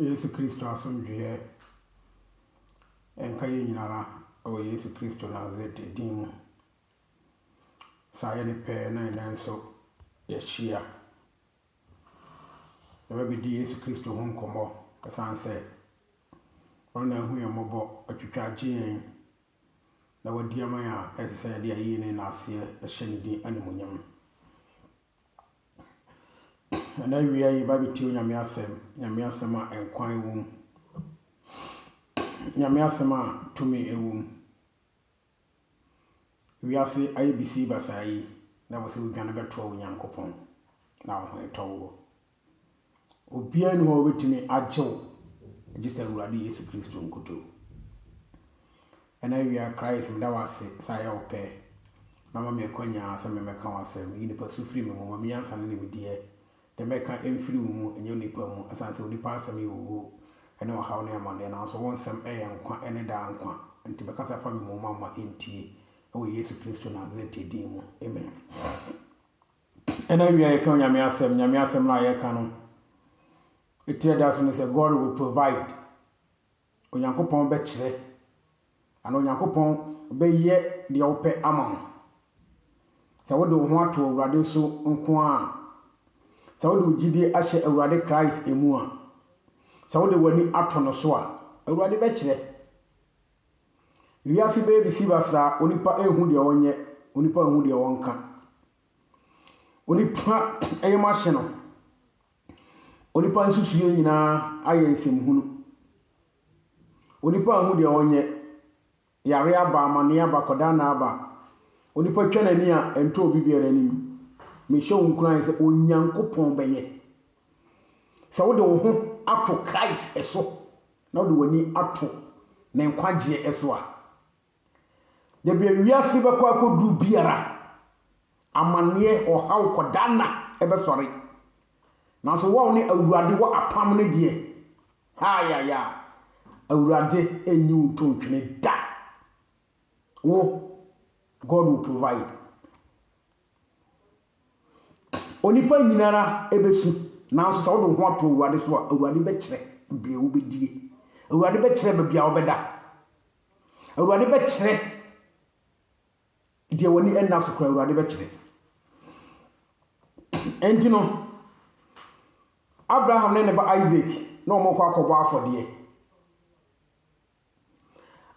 Yesu Kristo asomdweɛ nka yɛn nyinara wɔ Yesu Kristo Nasaret din mu. Sɛ ayɛ no pɛ na ɛnɛ nso yɛahyia. Yɛbɛbɛdi Yesu Kristo ho nkɔmmɔ ɛsiane sɛ ɔno na ahu yɛn mmɔbɔ, atwitwa agye yɛn na wadi ama yɛn a ɛsɛ sɛ yɛde ayie ne n'aseɛ hyɛ ne din animuonyam. Ɛna awie a yɛba bɛtie Onyame asɛm, Nyame asɛm a nkwa wɔ mu, Nyame asɛm a tumi wɔ mu. Wiase ayɛ bisie basaa yi, na wosɛ wodwane bɛtoa Onyankopɔn na wo ho retɔ wo. Obiara nni hɔ a ɔbɛtumi agye wo gye sɛ Awurade Yesu Kristo nkutoo. Ɛna awia Christ meda wo ase sɛ ayɛ wo pɛ na ma me akwanya sɛ memmɛka wo asɛm. Yi nipa su firi me mu, ma me nyansa ne nimdeɛ. Deɛ mɛka mfiri wo mu, ɛnyɛ onipa mu, ɛsiane sɛ onipa asɛm yɛ owuo ne ɔhaw ne amaneɛ, nanso wo nsɛm yɛ nkwa ne daa nkwa. Enti bɛkasa fa me mu ma mma ɛntie, wɔ Yesu Kristo Nasaret din mu, amen. Ɛna awie a yɛka Onyame asɛm, Nyame asɛm no a yɛka no, ɛtire da so ne sɛ God will provide, Onyankopɔn bɛkyerɛ, anaa Onyankopɔn bɛyɛ deɛ wopɛ ama wo. Sɛ wode wo ho ato Awurade so nko a, sɛ wode wo gyidie ahyɛ Awurade Christ mu a, sɛ wode w'ani ato no so a, Awurade bɛkyerɛ. Wiase bɛyɛ besi basaa, onipa nhu deɛ ɔnyɛ, onipa nhu deɛ ɔnka. Onipa yam ahye no, onipa nsusuiɛ nyinaa ayɛ nsɛmhunu. Onipa nhu deɛ ɔnyɛ, yareɛ aba, amaneɛ aba, akwadanna aba, onipa twa n'ani a ɛntɔ obi biara anim. Mehyɛ wo nkuran sɛ Onyankopɔn bɛyɛ. Sɛ wode wo ho ato Christ so, na wode w'ani ato ne nkwagyeɛ so a, da bia wiase bɛkɔ akɔduru biara, amanneɛ, ɔhaw, kɔdaanna bɛsɔre. Nanso wɔn ne Awurade wɔ apam no deɛ, haayaya, Awurade nyi wo nto ntwene da. Wo, God will provide. Onipa nyinara besu, nanso sɛ wode wo ho ato Awurade so a, Awurade bɛkyerɛ bea wobɛdie. Awurade bɛkyerɛ baabi a wobɛda. Awurade bɛkyerɛ deɛ w'ani nna so koraa, Awurade bɛkyerɛ. Enti no, Abraham ne ne ba Isaac na wɔkɔ akɔbɔ afɔdeɛ.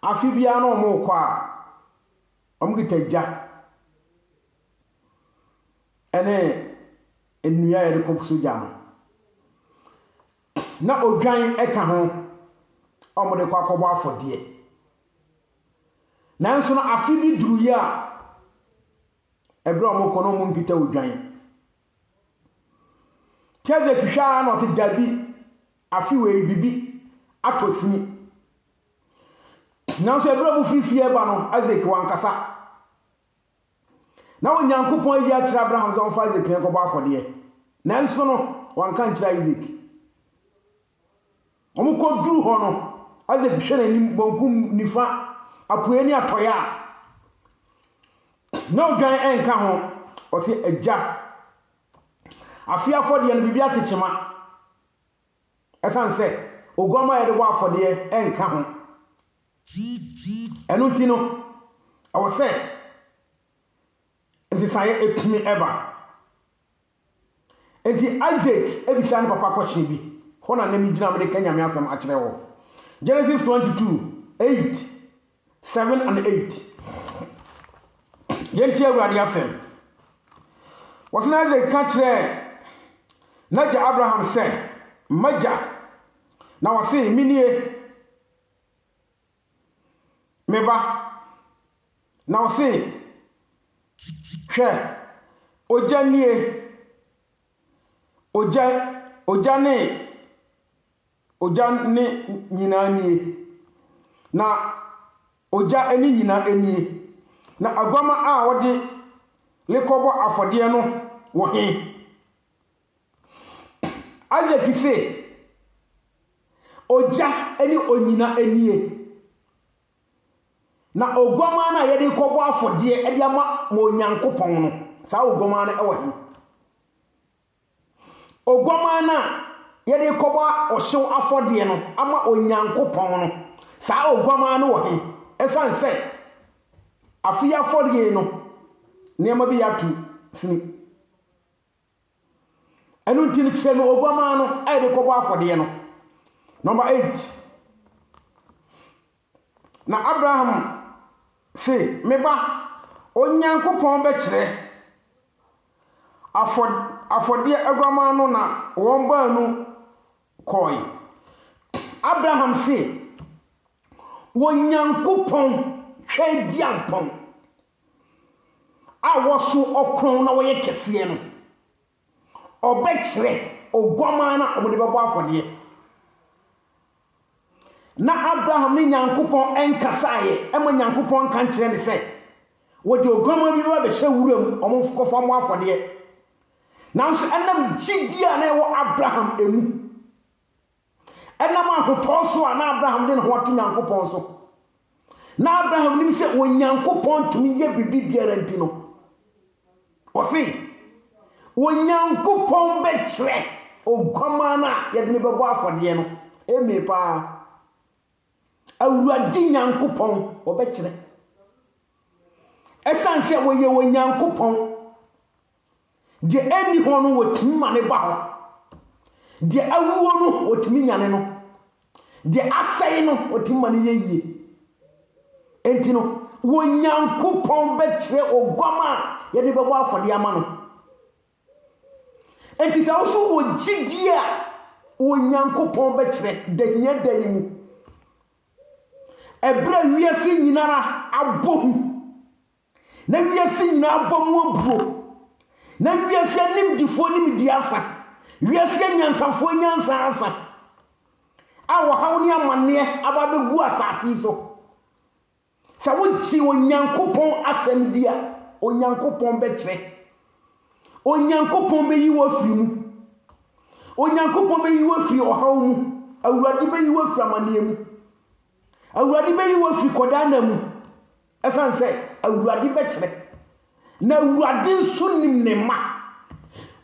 Afe biara na wɔkɔ a, wɔkita gya ne nnua a wɔde kɔsɔ gya no, na odwan ka ho a wɔde kɔ akɔbɔ afɔdeɛ. Nanso no, afe bi duruiɛ a, berɛ a wɔkɔ no, wɔnkita odwan. Cedric hwɛ ara na ɔse, Dabi, afe wei biribi atɔ sini. Nanso ɛberɛ a wɔfiri fie reba no, Isaac wankasa. Na Onyankopɔn ayi akyerɛ Abraham sɛ ɔmfa Isaac no nkɔbɔ afɔdeɛ. Nanso no, wanka ankyerɛ Isaac. Wɔkɔduruu hɔ no, Isaac hwɛɛ n'anim bankum, nifa, apueɛ ne atɔeɛ a, na odwan nka ho. Ɔse, Agya, afeɛ afɔdeɛ no, biribi ate kyema. Ɛsiane sɛ oguammaa a yɛde bɔ afɔdeɛ nka ho. Ɛno nti no, ɛwɔ sɛ nsesaeɛ tumi ba. Enti Isak bisaa ne papa kɔhyee bi. Hɔ na na migyina a mereka Nyame asɛm akyerɛ wo. Genesis 22, 8, 7 and 8. Yɛntie Awurade asɛm. Wɔse na Isak ka kyerɛɛ n'agya Abraham sɛ, M'agya! Na ɔse, Menie. Me ba, na ɔse, Hwɛ, ogya nie, ogya, ogya ne, ogya ne nyinaa nie, na ogya ne nyinaa nie, na aguama a wɔde rekɔbɔ afɔdeɛ no wɔ he? Isaac se, Ogya ne onyina nie, na oguamaa no a yɛde rekɔbɔ afɔdeɛ de ama mo Onyankopɔn no, saa oguamaa no wɔ he? Oguamaa no a yɛde rekɔbɔ ɔhyew afɔdeɛ no ama Onyankopɔn no, saa oguamaa no wɔ he? Ɛsiane sɛ afei afɔdeɛ no nneɛma bi yɛ ato sini. Ɛno nti no kyerɛ no oguamaa no a yɛde kɔbɔ afɔdeɛ no. Number eight. Na Abraham se, me ba, Onyankopɔn bɛkyerɛ afɔ afɔdeɛ aguamaa no na wɔn baanu kɔe. Abraham se, Onyankopɔn hwɛ diampɔn. a wɔso ɔkorɔn na wɔyɛ kɛseɛ no, ɔbɛkyerɛ oguamaa no a wɔde bɛbɔ afɔdeɛ. Na Abraham ne Nyankopɔn nkasaeɛ, ɛma Nyankopɔn nka nkyerɛ ne sɛ, wɔde oguamaa bi bɛba bɛhyɛ wura mu, wɔkɔfa mmɔ afɔdeɛ. Nanso ɛnam gyidie a na ɛwɔ Abraham mu, Ɛnam ahotɔ so a na Abraham de ne ho ato Nyankopɔn so. Na Abraham nim sɛ Onyankopɔn tumi yɛ biribi biara nti no, ɔse, Onyankopɔn bɛkyerɛ oguamaa no a yɛde no bɛbɔ afɔdeɛ no. Eme paa. Awurade Nyankopɔn, ɔbɛkyerɛ. Ɛsiane sɛ ɔyɛ Onyankopɔn Deɛ ɛnni hɔ no, wɔtumi ma no ba hɔ. Deɛ awuo no, wɔtumi nyane no. Deɛ asɛe no, wɔtumi ma no yɛ yie. Enti no, Onyankopɔn bɛkyerɛ oguam a yɛde bɛbɔ afɔdeɛ ama no. Enti sɛ wo so wɔ gyidie a, Onyankopɔn bɛkyerɛ da hia da yi mu. Ɛberɛ a wiase nyinara abɔ hu na wiase nyinaa abɔ mu abuo, na wiase animdefoɔ nimdeɛ afa, wiase anyansafoɔ nyansa afa, a ɔhaw ne amanneɛ aba abɛgu asase yi so. Sɛ wogye Onyankopɔn asɛm di a, Onyankopɔn bɛkyerɛ. Onyankopɔn bɛyi wo afiri mu. Onyankopɔn bɛyi wo afiri ɔhaw mu. Awurade bɛyi wo afiri amanneɛ mu. Awurade bɛyi wo afiri kɔdaa nna mu, ɛsiane sɛ Awurade bɛkyerɛ, na Awurade nso nim ne mma.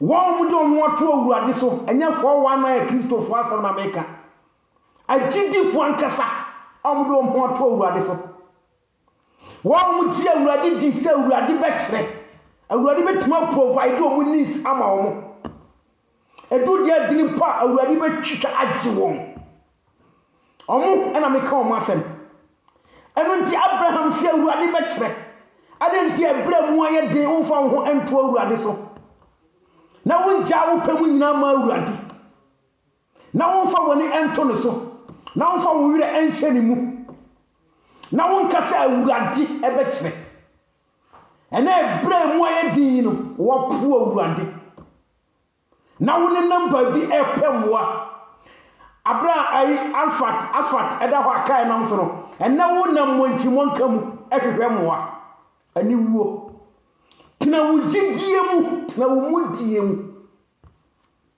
Wɔn wɔn de wɔn ho ato Awurade so, ɛnyɛ 419 Kristofo asɛm na meka. Agyidifo ankasa a wɔn de wɔn ho ato Awurade so. Wɔn gye Awurade di sɛ Awurade bɛkyerɛ. Awurade bɛtumi aprovide wɔn needs ama wɔn. Ɛdu deɛ adini mpo a Awurade bɛtwitwa agye wɔn. Wɔn na meka wɔn asɛm. Ɛno nti Abraham sɛ Awurade bɛkyerɛ. Adɛn nti ɛberɛ mu ayɛ den womfa wo ho nto Awurade so na wongyaa wo pɛ mu nyinaa ma Awurade. Na womfa w'ani nto ne so, na womfa wo werɛ nhyɛ ne mu, na wonka sɛ, Awurade bɛkyerɛ. Ɛnɛ ɛberɛ a emu ayɛ den yi no, woapo Awurade. Na wonenam baabi repɛ mmoa. Aberɛ a ayi Asfat, Asfat ɛda hɔ a kaa nam so no, ɛnɛ wonam mmɔnkyirimɔnka mu hwehwɛ mmoa. Aniwuo. Tena wo gyidie mu, tena wo mudie mu.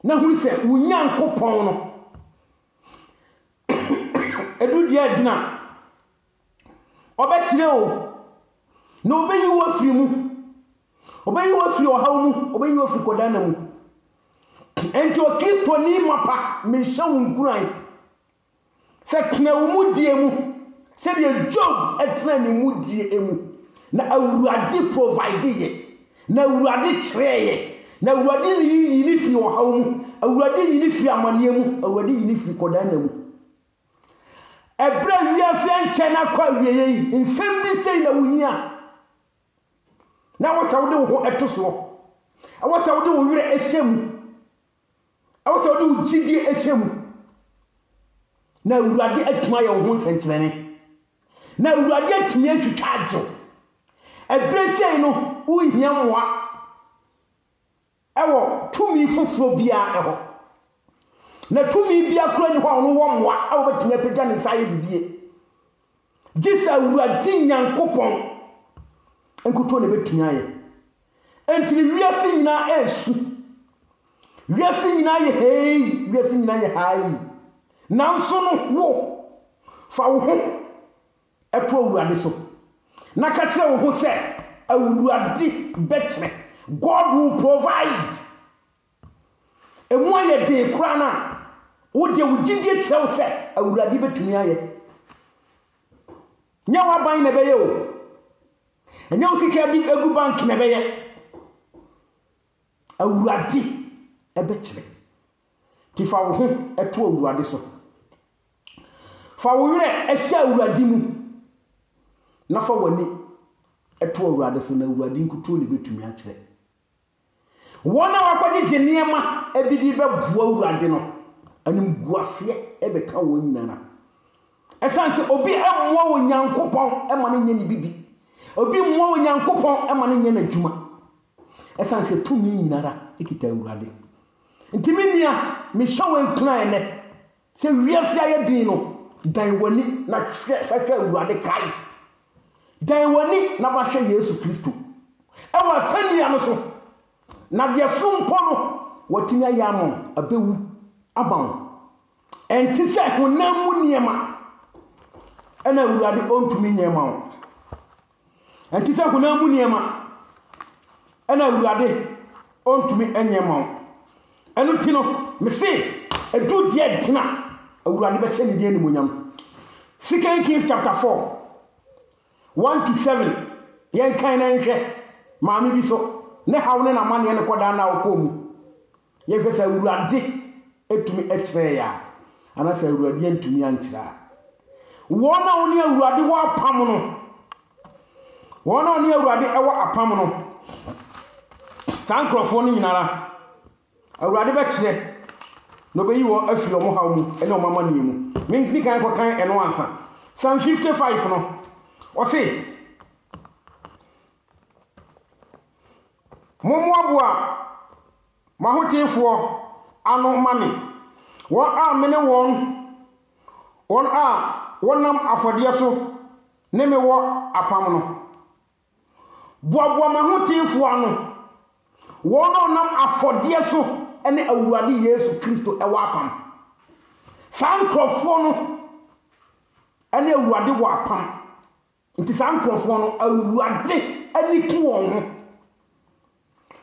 Na hunu sɛ wo Nyankopɔn no ɛdu deɛ agyina ɔbɛkyerɛ o na ɔbɛyi wo afiri mu ɔbɛyi wo afiri ɔhaw mu ɔbɛyi wo afiri kɔdana mu ɛnti ɔkristoni mapa mehyɛ wo nkuran sɛ, Tena wo mudie mu, sɛdeɛ Job tenaa ne mudie mu, na Awurade provideeɛ, na Awurade kyerɛeɛ, na Awurade ne yi yi ne firi ɔhaw mu, Awurade yi ne firi amaneɛ mu, Awurade yi ne firi kɔdan na mu. Ɛberɛ a wiase ankyɛ na akɔ awieɛ yi, nsɛm bi sei na wohia. Na ɛwɔ sɛ wode wo ho to soɔ. Ɛwɔ sɛ wode wo werɛ hyɛ mu. Ɛwɔ sɛ ɔde wo gyidie hyɛ mu. Na Awurade atumi ayɛ wo ho nsɛnkyerɛnne. Na Awurade atumi atwitwa agye wo. Ɛberɛ sei no, wohia mmoa ɛwɔ tumi foforɔ biara ɛhɔ. Na tumi biara kura ni hɔ a ɔno wɔ mmoa a wobɛtumi apagya ne nsa ayɛ bibie. Gye sɛ Awurade Nyankopɔn nkutoo na ɛbɛtumi ayɛ. Enti ne wiase nyinaa ɛresu. Wiase nyinaa yɛ hei, wiase nyinaa yɛ hai. Nanso no wo, fa wo ho ɛto Awurade so. Na ka kyerɛ wo ho sɛ, Awurade bɛkyerɛ. God will provide. Emu ayɛ den koraa no a, wo deɛ wo gyidie kyerɛ wo sɛ Awurade bɛtumi ayɛ. Nyɛ w'aban na ɛbɛyɛ o. Ɛnyɛ wo sika de agu bank na ɛbɛyɛ. Awurade ɛbɛkyerɛ. Nti fa wo ho ɛto Awurade so. Fa wo werɛ ɛhyɛ Awurade mu na fa w'ani ɛto Awurade so na Awurade nkutuo na ɛbɛtumi akyerɛ. Wɔn a wɔakɔgyegye nneɛma bi de rebɛboa Awurade no, animguaseɛ bɛka wɔn nyinaa. Ɛsiane sɛ obi mmoa Onyankopɔn ma no nyɛ ne bibi, obi mmoa Onyankopɔn ma no nyɛ n'adwuma. Ɛsiane sɛ tumi nyinara kita Awurade. Nti me nua, mehyɛ wo nkuran nnɛ, Sɛ wiase ayɛ din no, dan w'ani na hwɛ sɛ hwɛ Awurade Christ. Dan w'ani na ma hwɛ Yesu Kristo. Ɛwɔ asɛnnua no so, na deɛ so mpo no watumi ayɛ ama wo, abɛwu ama wo. Ɛnte sɛ honam mu nneɛma ɛna Awurade ɔntumi nyɛ ma wo. Ɛnte sɛ honam mu nneɛma, ɛna Awurade ɔntumi nyɛ ma wo. Ɛno nti no, mese, ɛduru deɛ ntena Awurade bɛhyɛ ne din animuonyam. Second Kings chapter 4, 1 to 7, yɛnkan na nhwɛ. Maame bi so, ne haw ne n'amanneɛ no kɔdaa no a ɔkɔɔ mu. Yɛhwɛ sɛ Awurade tumi kyerɛɛ yɛ a, anaa sɛ Awurade antumi ankyerɛ a. Wɔn a wɔne Awurade wɔ apam no, wɔn a wɔne Awurade wɔ apam no, saa nkurɔfoɔ no nyinara, Awurade bɛkyerɛ na ɔbɛyi wɔn afiri wɔn haw mu ne wɔn amanneɛ mu. Menkni kan kɔkan ɛno ansa. Psalm 55 no, ɔse, Mommoaboa m'ahotefoɔ ano mma me, wɔn a me ne wɔn, wɔn a wɔnam afɔdeɛ so ne me wɔ apam no. Boaboa m'ahotefoɔ ano, wɔn a wɔnam afɔdeɛ so ne Awurade Yesu Kristo wɔ apam. Saa nkurɔfoɔ no ne Awurade wɔ apam. Nti saa nkurɔfoɔ no Awurade ani ku wɔn ho.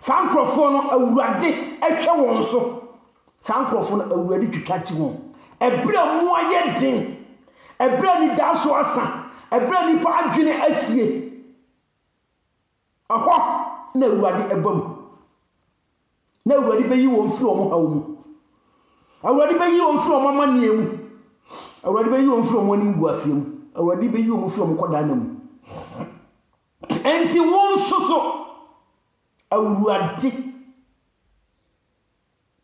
Saa nkurɔfoɔ no Awurade hwɛ wɔn so. Saa nkurɔfoɔ no Awurade twitwa kyi wɔn. Ɛberɛ a mu ayɛ den, ɛberɛ a nidaaso asa, ɛberɛ a nnipa adwene asie. Ɛhɔ na Awurade aba mu, na Awurade bɛyi wɔn firi wɔn haw mu. Awurade bɛyi wɔn firi wɔn amanneɛ mu. Awurade bɛyi wɔn firi wɔn anim gu aseɛ mu. Awurade bɛyi wɔn firi wɔn kɔdaa na mu. Enti wɔn nso so, Awurade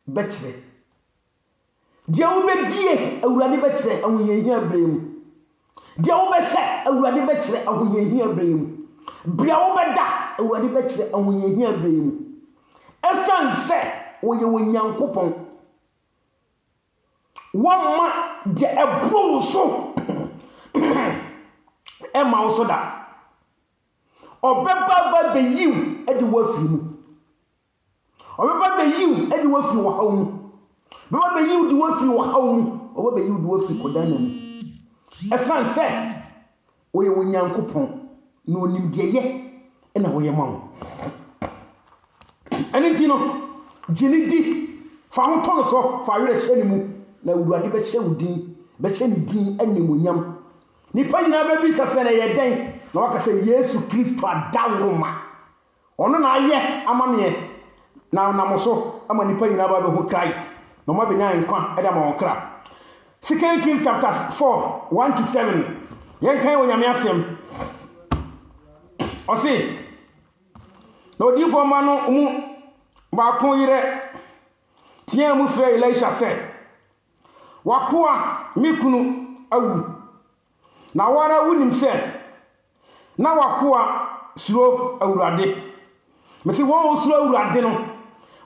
bɛkyerɛ. Deɛ wobɛdie, Awurade bɛkyerɛ ahohiahia berɛ mu. Deɛ wobɛhyɛ, Awurade bɛkyerɛ ahohiahia berɛ mu. Bea wobɛda, Awurade bɛkyerɛ ahohiahia berɛ mu. Ɛsiane sɛ wɔyɛ wɔ Nyankopɔn. Wɔmma deɛ ɛboro wo so ɛma wo so da. Ɔbɛba ba bɛyiw de woafiri mu. Ɔbɛba bɛyi wo de wo afiri ɔhaw mu. Bɛba bɛyi wo de wo afiri ɔhaw mu. Ɔbɛba bɛyi wo de wo afiri kɔdaanna mu. Ɛsiane sɛ ɔyɛ wo Nyankopɔn na ɔnim deɛ yɛ na ɔyɛ ma wo. Ɛno nti no, gye ne di, fa ho to no so, fa awerɛ hyɛ ne mu, na Awurade bɛhyɛ wo din, bɛhyɛ ne din animuonyam. Nnipa nyinaa bɛbisa sɛ na ɛyɛ dɛn, na waka sɛ Yesu Kristo adaworoma. Ɔno na ayɛ amaneɛ na ɔnam so ama nnipa nyinaa ba bɛhu Christ na wɔn abɛnya nkwa de ama wɔn kra. Second Kings chapter 4 1 to 7 yɛn kan wɔ nyame asɛm. Ɔse na odiifoɔ mma no mu baako yerɛ teaa mu frɛ Elisha sɛ, Wakoa me kunu awu Na wo ara wunim sɛ na w'akoa suro Awurade. Mese wɔn a wɔsuro Awurade no,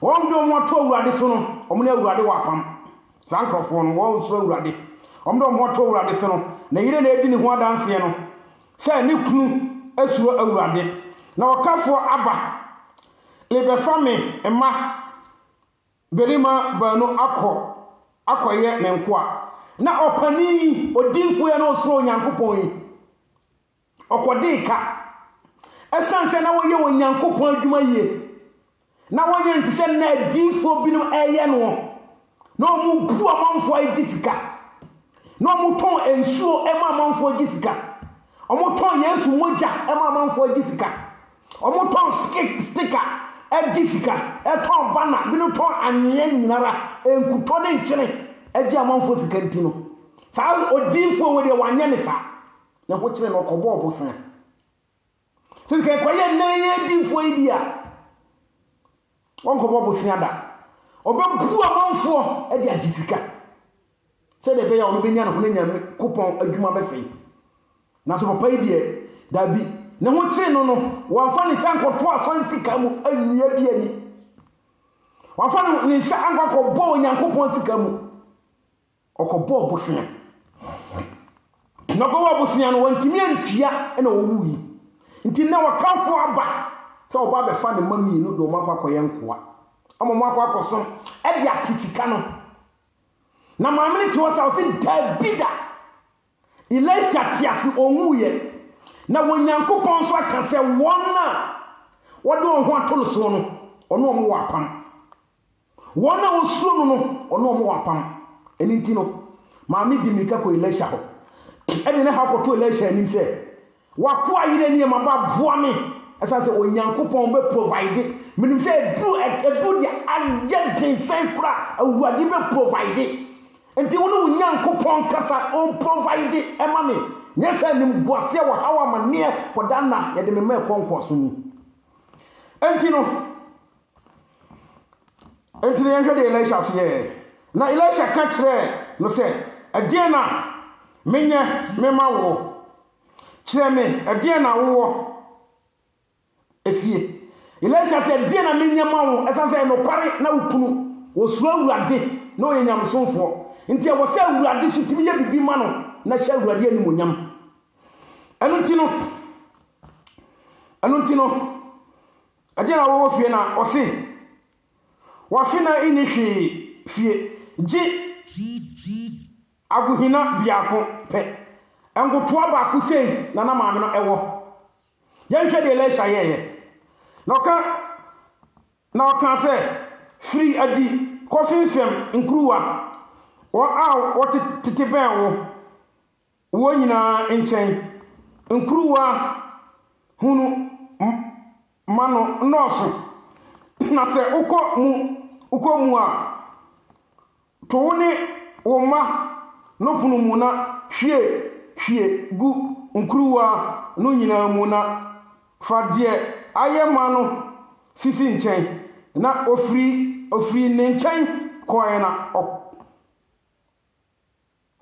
wɔn de wɔn ato Awurade so no, wɔn ne Awurade wɔ apam. Saa nkurɔfoɔ no, wɔn a wɔsuro Awurade, wɔn de wɔn ato Awurade so no, ne yere na ɛdi ne ho adanseɛ no, sɛ ne kunu suro Awurade. Na ɔkafoɔ aba rebɛfa me mma. Mmarima baanu akɔ akɔyɛ ne nkoa. Na ɔpanin yi, odiyifoɔ yi na ɔsuro Onyankopɔn yi, ɔkɔdee ka. Ɛsiane sɛ na wɔyɛ Onyankopɔn adwuma yie, na wɔnyɛ no te sɛ na adiyifoɔ binom ɛreyɛ no, na wɔbu amanfoɔ a gye sika, na wɔtɔn nsuo ma amanfoɔ gye sika, wɔtɔn Yesu mogya ma amanfoɔ gye sika. Wɔtɔn stika gye sika, tɔn banner, binom tɔn anwea nyinara, nkutɔ ne nkyene gye amanfoɔ sika nti no, saa odiyifoɔ wei deɛ wanyɛ ne saa. Ne ho kyere no ɔkɔbɔɔ bosea. Sɛ sika ɛkɔyɛ nnɛ yi adiyifoɔ yi di a, wɔnkɔbɔ bosea da. Ɔbɛbu amanfoɔ de agye sika. sɛdeɛ ɛbɛyɛ a ɔbɛnya ne ho anya ne kopɔn adwuma bɛfɛe. Nanso papa yi deɛ, daabi, ne ho kyere no no, wamfa ne nsa nkɔto asɔre sika mu annua bi ani. Wamfa ne nsa ankɔ akɔbɔ Onyankopɔn sika mu. Ɔkɔbɔɔ bosea. Na ɔkɔbɔɔ bosea no, wantumi antua na ɔwu yi. Nti na ɔtamfo aba sɛ ɔba abɛfa ne mma mmienu de wɔn akɔ akɔyɛ nkoa. Ama wɔn akɔ akɔsom de ate sika no. Na maame no te hɔ sa ɔse dabi da Elisha te ase ɔnwuiɛ na wɔ Nyankopɔn nso aka sɛ wɔn a wɔde wɔn ho ato no soɔ no ɔne wɔn wɔ apam wɔn a wɔsuro no no ɔne wɔn wɔ apam ɛno nti no maame di mmirika kɔ Elisha hɔ ɛde ne ha kɔto Elisha anim sɛ W'akoa yere nneɛma ba boa me ɛsan sɛ Onyankopɔn bɛ provide menim sɛ ɛduru ɛduru deɛ ayɛ den sɛn kora awurade bɛ provide nti wo ne wo Nyankopɔn kasa on provide ɛma me nyɛ sɛ nim guaseɛ wɔ haw amaneɛ kɔda nna yɛde me ma ɛkɔ nkoaso mu nti no Enti na yɛnhwɛ deɛ Elisha nso yɛɛ. Na Elisha ka kyerɛɛ no sɛ, Ɛdeɛn na menyɛ mema wo? Kyerɛ me ɛdeɛn na wowɔ efie. Elisha sɛ, Ɛdeɛn na menyɛ ma wo? Ɛsiane sɛ ɛyɛ nokware na wo kunu, ɔsuro Awurade na ɔyɛ nyamesomfoɔ. Enti ɛwɔ sɛ Awurade nso tumi yɛ biribi ma no na hyɛ Awurade animuonyam. Ɛno nti no, ɛno nti no, Ɛdeɛn na wɔwɔ fie na ɔse wafe na nni hwee fie gye agohina biako pɛ. Nkotoa baako sei na na maame no wɔ. Yɛnhwɛ deɛ Elisha yɛeɛ. Na ɔka na ɔkaa sɛ, Firi adi kɔfemfam nkuruwa wɔn a wɔtete bɛn wo. Wɔn nyinaa nkyɛn nkuruwa hunu ma no nnɔɔso, na sɛ wokɔ mu wokɔ mu a, to wo ne wo mma no pono mu na hwie hwie gu nkuruwa no nyinaa mu na fa deɛ ayɛ ma no sisi nkyɛn. Na ɔfiri ɔfirii ne nkyɛn kɔeɛ na ɔ.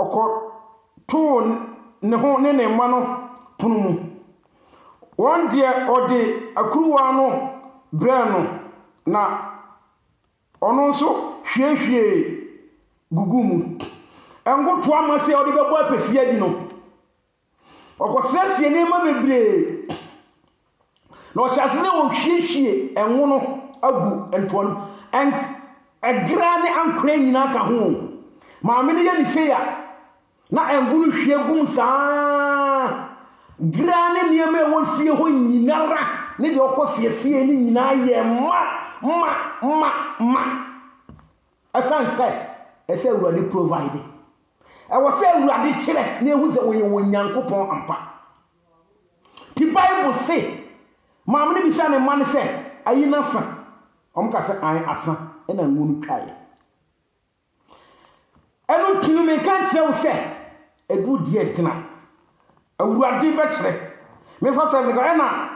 Ɔkɔtoo ne ho ne ne mma no pono mu. Wɔn deɛ, ɔde akuruwa no brɛɛ no, na ɔno nso hwiehwiee guguu mu. Ngo toa ma sɛ ɔde bɛbɔ apɛsi adi no, Ɔkɔsiesie nneɛma bebree, na ɔhyɛ ase sɛ ɔhwiehwie ɛnwo no agu ntoa no. Ɛn ɛgra ne ankorɛ nyinaa ka ho. Maame no yɛ ne sei a, na ɛngo no hwie gu mu saa. Gra ne nneɛma a ɛwɔ fie hɔ nyinara ne deɛ ɔkɔsiesie no nyinaa yɛɛ ma, ma, ma, ma. Ɛsiane sɛ ɛsɛ Awurade provide, ɛwɔ sɛ Awurade kyerɛ na ehu sɛ wɔyɛ wɔn Nyankopɔn ampa. Ti Bible se, maame no bisa ne mma no sɛ, ayi no asa? Wɔn ka sɛ, ae asa, ɛna ngo no twaeɛ. Ɛno nti no meka nkyerɛ wo sɛ, ɛduru deɛ gyina. Awurade bɛkyerɛ. Mefa sɛ meka ɛna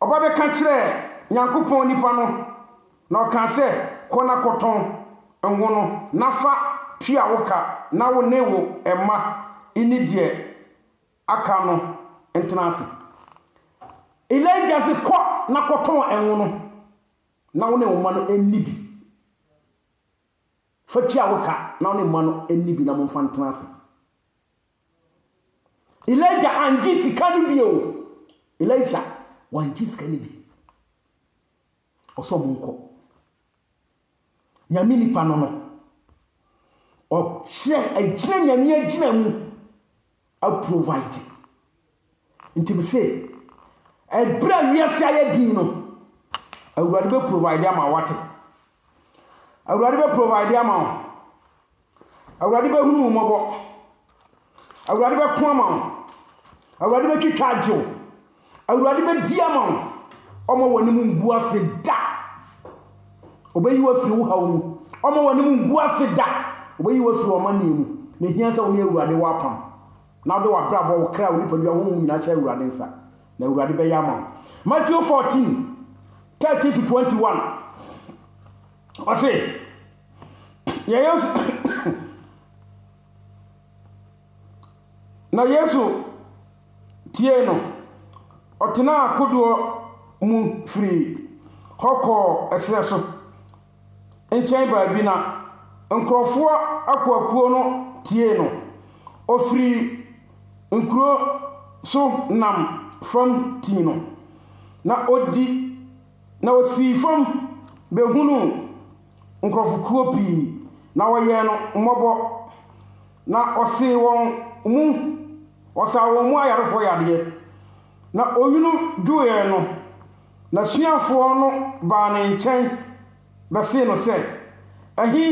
Ɔba bɛka kyerɛɛ Nyankopɔn nipa no, na ɔkaa sɛ, Kɔ na kɔtɔn ngo no, na fa tua wo ka, na wo ne wo mma nni deɛ aka no ntena ase. Elijah se, Kɔ na kɔtɔn ngo no, na wo ne wo mma no nni bi. Fa tua wo ka, na wo ne mma no nni bi na momfa ntena ase. Elijah angye sika no bi o. Elijah wangye sika no bi. Ɔsɛ ɔmo nkɔ. Nyame nipa no no. Ɔkyerɛ agyina nyame agyina mu aprovide. Nti mese, ɛberɛ a wiase ayɛ din no, Awurade bɛ provide ama wate. Awurade bɛ provide ama wo. Awurade bɛ hunu mmɔbɔ. Awurade bɛ ko ama wo. Awurade bɛ twitwa agye wo. Awurade bɛ di ama wo. Ɔma wɔn anim ngu ase da. Ɔbɛyi wo afiri wo haw mu. Ɔma wɔn anim ngu ase da. Ɔbɛyi wo afiri wɔn amanneɛ mu. Na ehia sɛ wɔn Awurade wɔ apam. Na wode w'abrabɔ, wo kra, wo nipadua, wo honhom nyinaa hyɛ Awurade nsa, na Awurade bɛyɛ ama wo. Matthew 14, 13 to 21. Ɔse, yɛ Yesu, na Yesu tiee no. Ɔtenaa kodoɔ mu firii hɔ kɔɔ ɛserɛ so, nkyɛn baabi na nkurɔfoɔ akuakuo no tiee no. Ɔfirii nkuro so nam fam tii no, na ɔdi na ɔsii fam bɛhunuu nkurɔfokuo pii, na wɔyɛɛ no mmɔbɔ, na ɔsee wɔn mu, ɔsaa wɔn mu ayarefoɔ yadeɛ, na onwunu dwoeɛ no. N'asuafoɔ no baa ne nkyɛn bɛsee no sɛ, Ɛhe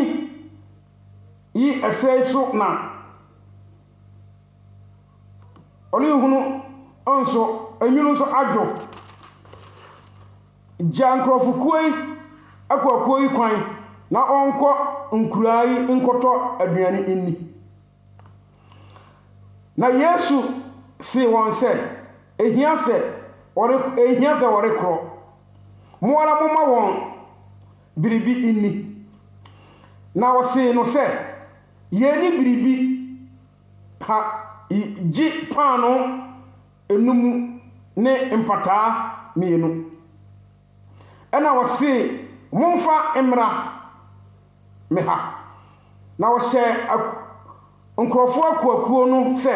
yi ɛsɛe so na ɔrenhunu nso, enwunu nso adwo? Gya nkurɔfokuo yi akuakuo yi kwan na wɔnkɔ nkuraa yi nkɔtɔ aduane nni. Na Yesu see wɔn sɛ, Ɛhia sɛ wɔre, ɛnhia sɛ wɔrekorɔ. Mo ara momma wɔn biribi nni. Na wɔsee no sɛ, Yɛnni biribi ha gye paanoo enum ne mpataa mmienu. Ɛnna wɔsee, Momfa mmra. me ha. Na ɔhyɛɛ ak nkurɔfoɔ akuakuo no sɛ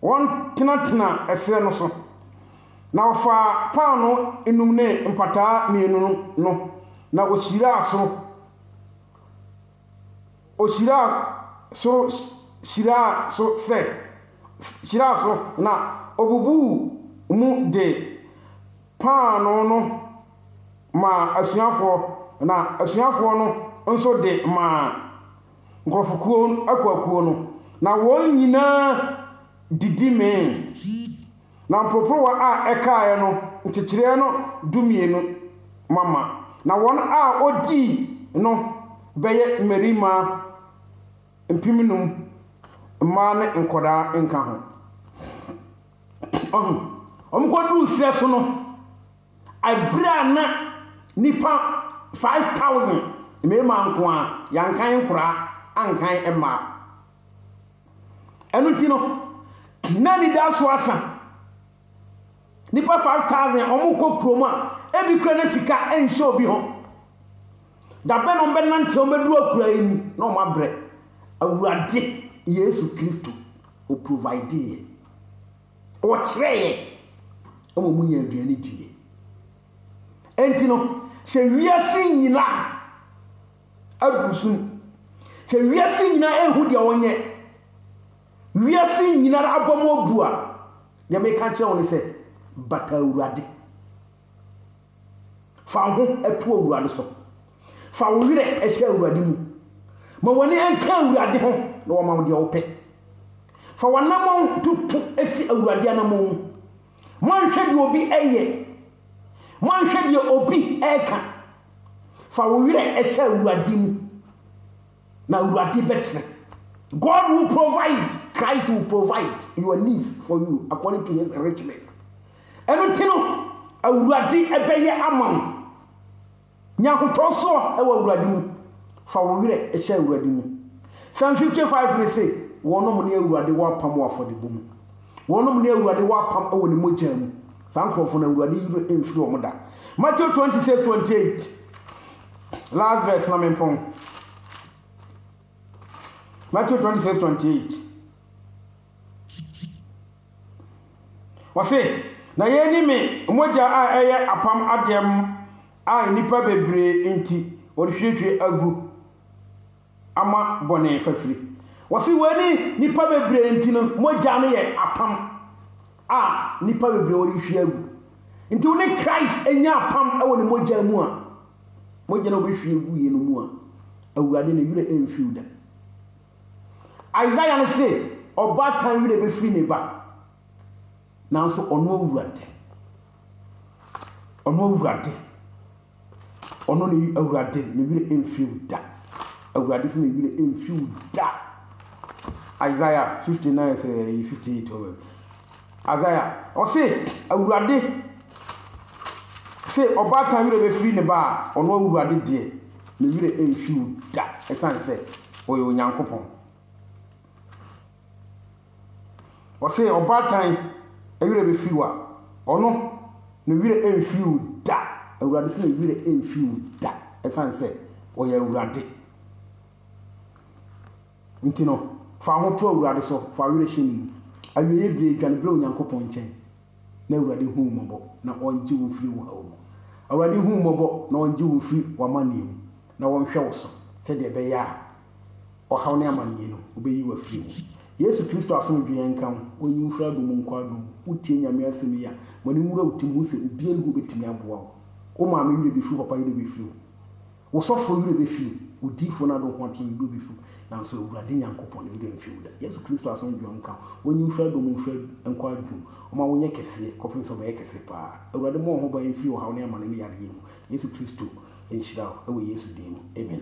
wɔntenatena ɛserɛ no so. Na ɔfaa paanoo nnum ne mpataa mmienu no, na ɔhyiraa soro, ɔhyiraa soro hyiraa so sɛ, hyiraa so, na ɔbubuu mu de. Paanoo no maa asuafoɔ, na asuafoɔ no nso de maa nkurɔfokuo, akuakuo no, na wɔn nyinaa didi mee. Na mporoporowa a ɛkaeɛ no nkyekyereɛ no dumienu mama, na wɔn a wɔdii no bɛyɛ mmarima mpemnum, mmaa ne nkwadaa nka ho. Ɔho. Wɔn kɔduu serɛ so no, abere a na nipa 5,000 mmarima nko a, yɛankan nkoraa, ankan mmaa. Ɛno nti no, na anidaso asa. Nipa 5,000 a wɔkɔ kurom a, ebi kura na sika nhyɛ obi ho. Da bɛn na wɔbɛnante a wɔbɛduru akuraa yi mu na wɔabrɛ? Awurade Yesu Kristo, ɔprovideeɛ. Ɔkyerɛeɛ ma wɔnya aduane diiɛ. Enti no, sɛ wiase nyinaa aduru so mu, sɛ wiase nyinaa ɛhu deɛ wɔnyɛ, wiase nyinaa abɔ mu abu a, deɛ meka kyerɛ wo ne sɛ, bata Awurade. Fa wo ho to Awurade so. Fa wo werɛ hyɛ Awurade mu. Ma w'ani nka Awurade ho na wɔma wo deɛ wopɛ. Fa w'anammɔn toto si Awurade anammɔn mu. Moanhwɛ deɛ obi ɛyɛ. Moanhwɛ deɛ obi ɛka. Fa wo werɛ hyɛ Awurade mu. Na Awurade bɛkyerɛ. God will provide, Christ will provide your needs for you according to his richness. Ɛno nti no, Awurade ɛbɛyɛ ama wo. Nya ahotɔ soɔ ɛwɔ Awurade mu. Fa wo werɛ ɛhyɛ Awurade mu. Psalm 55 ne se, wɔnom ne Awurade wɔ apam wɔ afɔdebɔ mu. Wɔnom ne Awurade wɔ apam ɛwɔ ne mogya mu. Saa nkurɔfoɔ no Awurade yere mfiri wɔn da. Matthew 26, 28. Last verse ma mempɔn. Matthew 26, 28. Wɔse, na yei ne me mogya a ɛyɛ apam adeɛm a nnipa bebree nti wɔde hwirihwiri agu. ama bɔne fafiri. Wɔsi wei ne nipa bebree nti no mogya no yɛ apam a nipa bebree wɔrehwie agu. Nti wo ne Christ anya apam wɔ ne mogya mu a, mogya no wɔbɛhwie agu yɛ no mu a, awurade ne werɛ mfiriw da. Isaiah no se, ɔbaatan werɛ bɛfiri ne ba, nanso ɔno awurade, ɔno awurade. Ɔno na ɛyi Awurade, ne werɛ remfi wo da. Awurade se ne werɛ remfi wo da. Isaiah 59 sɛ ɛyɛ 58 ɔbɛ. Isaiah, ɔse Awurade sɛ ɔbaatan werɛ bɛfiri ne ba a, ɔno Awurade deɛ, ne werɛ remfi wo da, ɛsiane sɛ ɔyɛ Onyankopɔn. Ɔse ɔbaatan werɛ bɛfiri wo a, ɔno ne werɛ ɛmfiri wo da. Awurade se ne werɛ ɛmfiri wo da ɛsiane sɛ ɔyɛ Awurade. Nti no, fa ho to Awurade so, fa werɛ hyɛ ne mu. Awieeɛ bire, dwane brɛ Onyankopɔn nkyɛn na Awurade hu wo mmɔbɔ na ɔngye wo mfiri wo haw mu. Awurade hu wo mmɔbɔ na ɔngye wo mfiri w'amaneɛ mu na ɔnhwɛ wo so sɛdeɛ ɛbɛyɛ a ɔhaw ne amaneɛ no, ɔbɛyi wo afiri mu. Yesu Kristo asomdwoeɛ nka wo, wonyi wo mfiri adom mu nkɔ adom mu. Wotie Nyame asɛm yi a, ma no nwura wo tirim, hu sɛ obiara nni hɔ ɔbɛtumi aboa wo. Wo maame werɛ bɛfiri wo, papa werɛ bɛfiri wo, wo sɔfoɔ werɛ bɛfiri wo, odiyifoɔ no adohoatorɔ werɛ bɛfiri wo, nanso Awurade Nyankopɔn ne werɛ mfiri wo da. Yesu Kristo asomdwoeɛ nka wo, wonyi wo mfiri adom mu mfiri nkɔ adom mu, ɔma wonyɛ kɛseɛ kɔpem sɛ ɔbɛyɛ kɛse paa. Awurade mmɔ wo ho ban mfiri ɔhaw ne amane ne yareɛ mu. Yesu Kristo nhyira wo, wɔ Yesu din mu, amen.